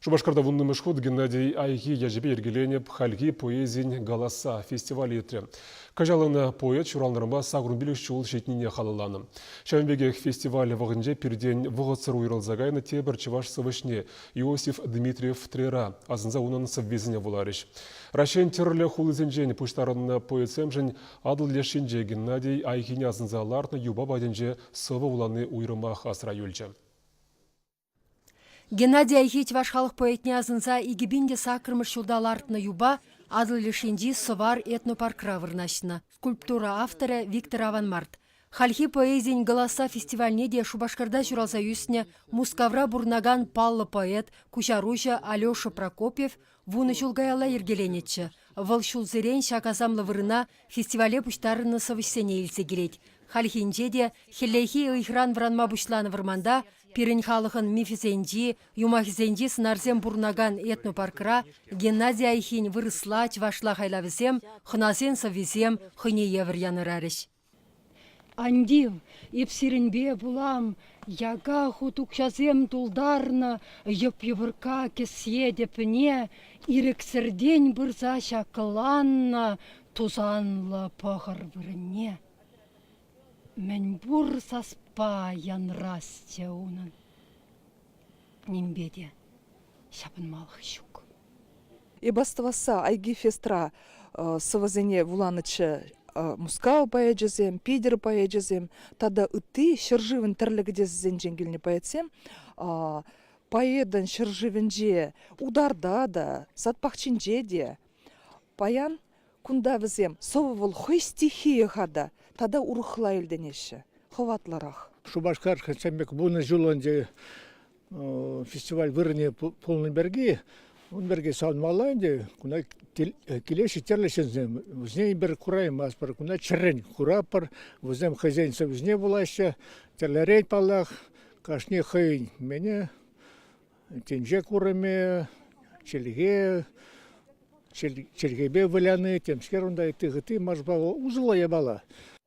Шупашкарта вуннӑмӗш хут Геннадий Айхи ячӗпе йӗркеленӗ Хальхи поэзин голоса фестиваль иртрӗ. Кӑҫалӑн поэт ҫуралнӑранпа сакӑр пилӗк ҫул ҫитнине халалланӑ. Ҫавӑн пекех фестиваль вӑхӑтӗнче пиртен вӑхӑтсӑр уйрӑлса кайнӑ тепӗр чӑваш сӑвӑҫне Иосиф Дмитриев Трера асӑнса унӑн сӑввисене вуларӗҫ. Раҫҫейӗн тӗрлӗ хулисенчен пуҫтарӑннӑ поэтсемшӗн Атӑл лешӗнче Геннадий Айхине асӑнса лартнӑ юпа патӗнче сӑвӑ вулани уйрӑмах асра юлчӗ. Геннадий Айхи чӑваш халӑх поэтне асӑнса икӗ пин те саккӑрмӗш ҫулта лартнӑ юпа Атӑл лешенчи Сӑвар этнопаркра вырнаҫнӑ. Скульптура авторӗ Виктор Аванмарт. Хальхи поэзийӗн Голоса фестивальне те Шупашкарта ҫуралса ӳснӗ Мускавра пурӑнакан паллӑ поэт, куҫаруҫӑ Алеша Прокопьев вунӑ ҫул каялла йӗркеленӗччӗ. Вӑл ҫулсерен ҫак асамлӑ вырӑна фестивале пуҫтарӑннӑ сӑвӑҫсене илсе килет. Хальхинче те хӗллехи ыйхӑран вӑранма пуҫланӑ вӑрманта Пирӗн халӑхӑн мифӗсенчи, юмахӗсенчи сӑнарсем пурӑнакан этнопаркра Геннадий Айхин вырӑсла, чӑвашла хайлавӗсем, хӑнасен сӑввисем хӑйне евӗр янӑрарӗҫ. Андив, эп сирӗнпе пулам, яка хут укҫасем тултарнӑ йӑп-йӑпӑркка кӗсье тӗпне ирӗксӗртен пырса ҫаккӑланнӑ тусанлӑ пӑхӑр вырӑнне. Мӗнпур саспа янрасчӗ унӑн. Нимпе те ҫапӑнмалӑх ҫук. Эп астӑвасса Айгифестра сӑвӑсене вуланӑччӗ. Мускав поэчӗсем, Питӗр поэчӗсем тата ытти ҫӗршывӑн тӗрлӗ кӗтесӗсенчен килнӗ поэтсем поэтӑн ҫӗршывӗнче, утарта та, сад пахчинче те паян Кунта вӗсем сӑвӑ-вӑл хӑй стихийӗ-ха та, тата урӑхла илтӗнеҫҫӗ, хӑватлӑрах. Шупашкар хресчен пек вунӑ ҫул ӗнтӗ фестиваль вырӑнӗ пулнӑ пирки, ун пирки савӑнмалла ӗнтӗ. Куна килеҫҫӗ тӗрлӗ ҫынсем. Вӗсене пӗр кураймастпӑр, куна чӗррӗн куратпӑр. Вӗсем хӑйсен сӑвӑсне вулаҫҫӗ. Тӗрлӗрен, паллах, кашни хӑйӗн мене Тӗнче курӑмӗ, чӗлхе, чӗлхепе выляни, темскер унта ытти хытти маршпа усӑллӑ япала.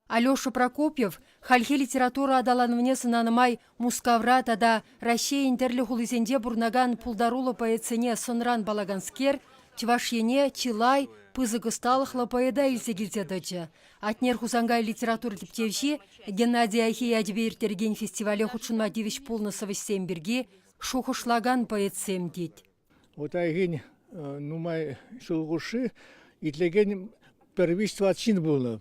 Алеша Прокопьев хальхи литература аталанӑвне сӑнанӑ май Мускавра тата Раҫҫейӗн тӗрлӗ хулисенче пурӑнакан пултаруллӑ поэтсене сӑнран паллаканскер Чӑваш Ене чылай пысӑк ӑсталӑхлӑ поэта илсе килсе тӑчӗ. Атнер Хусанкай литература тӗпчевҫи Геннадий Айхи ячӗпе ирттерекен фестивале хутшӑнма тивӗҫ пулнӑ сӑвӑҫсем пирки шухӑшлакан поэтсем тет. Утайхин нумай ҫул хушши итлекен пӗр виҫ-тӑват ҫын пулнӑ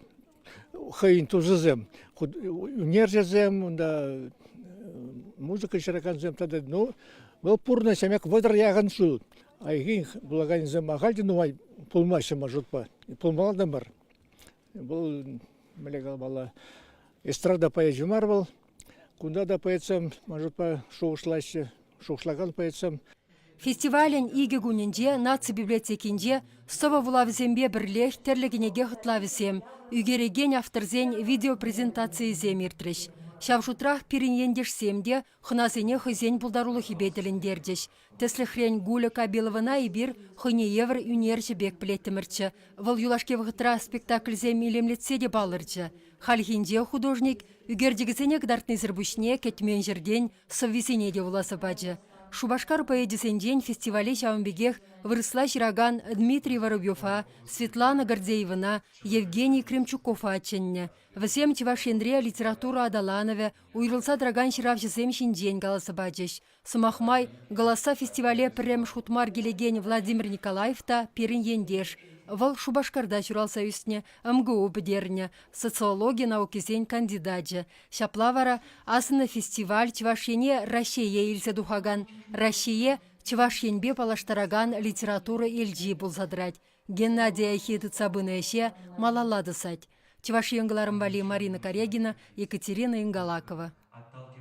хӑйӗн тусӗсем, ӳнерҫӗсем, унта музыка ҫыракансем тата ну вӑл пурнӑҫ ӗмӗк вӑтӑр яхӑн ҫул. Айхин вулаканӗсем ахаль те нумай пулмаҫҫӗ маршрутпа, пулмалла та мар. Вӑл мӗнле каламалла, эстрада поэчӗ мар вӑл, Кунта та поэтсем маршрутпа шухӑшлаҫҫӗ, шухӑшлакан поэтсем. Фестивалӗн икӗ кунӗнче наци библиотекинче сӑвӑ вулавӗсемпе пӗрлех тӗрлӗ кӗнеке хӑтлавӗсем, ӳкерекен авторсен видеопрезентацийӗсем иртрӗҫ. Ҫав шутрах пирӗн ентешсем те хӑнасене хӑйсен пултарулӑхӗпе тӗлӗнтерчӗҫ, Тӗслӗхрен, Гуля Кабиловӑна эпир хӑйне евӗр ӳнерҫӗ пек пӗлеттӗмӗрччӗ. Вӑл юлашки вӑхӑтра спектакльсем илемлетсе те палӑрчӗ. Хальхинче художник ӳкерчӗкӗсене кӑтартнисӗр пуҫне кӗтмен ҫӗртен сӑввисене те вуласа пачӗ. Шупашкар поэчӗсенчен фестивале ҫавӑн пекех вырӑсла ҫыракан Дмитрий Воробьева, Светлана Гордеевӑна, Евгений Кремчукова чӗннӗ. Вӗсем Чӑваш Енре литература аталанӑвӗ уйрӑлса тӑракан ҫыравҫӑсем ҫинчен каласа пачӗҫ, Сӑмах май, Голоса фестивале пӗрремӗш хут мар килекен Владимир Николаев та пирӗн ентеш. Вӑл Шупашкарта ҫуралса ӳснӗ, МГУ пӗтернӗ, социологи наукисен кандидачӗ. Ҫапла вара асӑннӑ фестиваль Чӑваш Ене Раҫҫее илсе тухакан, Раҫҫее Чӑваш Енпе паллаштаракан литература элчи пулса тӑрать. Геннадий Айхи тытса пынӑ ӗҫе малалла тӑсать. Чӑваш Ен кӑларӑм валли Марина Корягина, Екатерина Ингалакова.